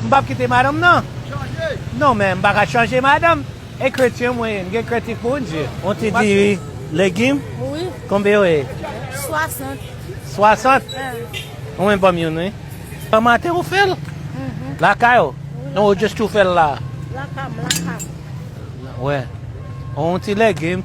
M pap kite madanm nan chanje. Non men m pa ka chanje madanm e kretyen mwen ye m gen kretik pou Bndye. On ti diri legim Wi. konbe yo ye? 60. 60? Ahh. Ou menm banm youn wi. Bon maten ou fèl? Uhmm. Lakay ou? Wi lakay. Ou just tou fèl la? Lakay m lakay m. Mwen wè. On ti legim.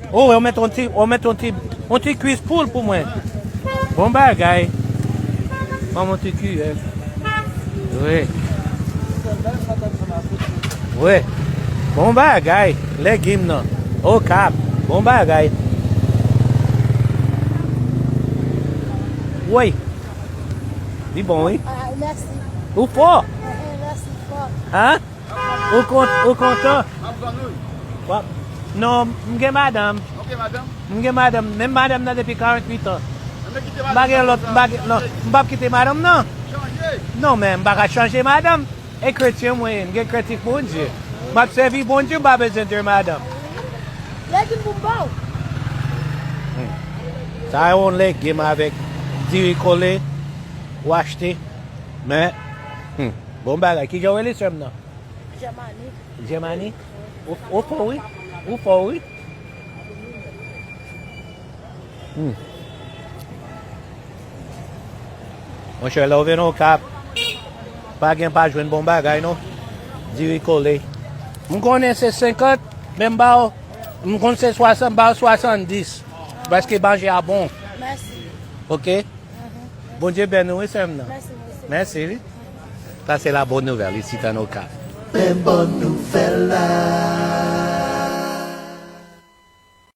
Oh wè ou met on ti ou met on ti on ti kwis poul pou mwen bon bagay banm on ti kiyè wi wi bon bagay legim nan okap bon bagay woy li bon wi ou fò han Ou kont, ou kontan? Map tann ou. Wap, non, m gen madanm. Ok madanm? M gen madanm, menm madanm nan depi 48 ans. Renmen kite madanm nan konsa? M pa gen lòt, m pa gen, non, m pap kite madanm nan. Chanje? Non men, m pa ka chanje madanm. E kretyen mwen ye, m gen krent ak Bondye. Map sèvi Bondye, m pa bezwen 2 madanm. Legim pou m ba w? Sa a yon legim avèk diri kole ou achte, men, hum. Bon bagay. Kijan ou rele sèm nan? Germanique. Germanique? Ou fò wi. Ou fò wi. Mon chè lè ou vin okap. Pa gen pa jwenn bon bagay non. Diri kole. M konnen se 50 men m ba ou m konn se 60 m ba ou 70. Paske manje a bon. Mèsi. Ok. Bondye beni ou wi sèm nan. Mèsi mwen se. Mèsi wi. Sa se la bonne nouvelle isit an okap. Men bon nouvèl la.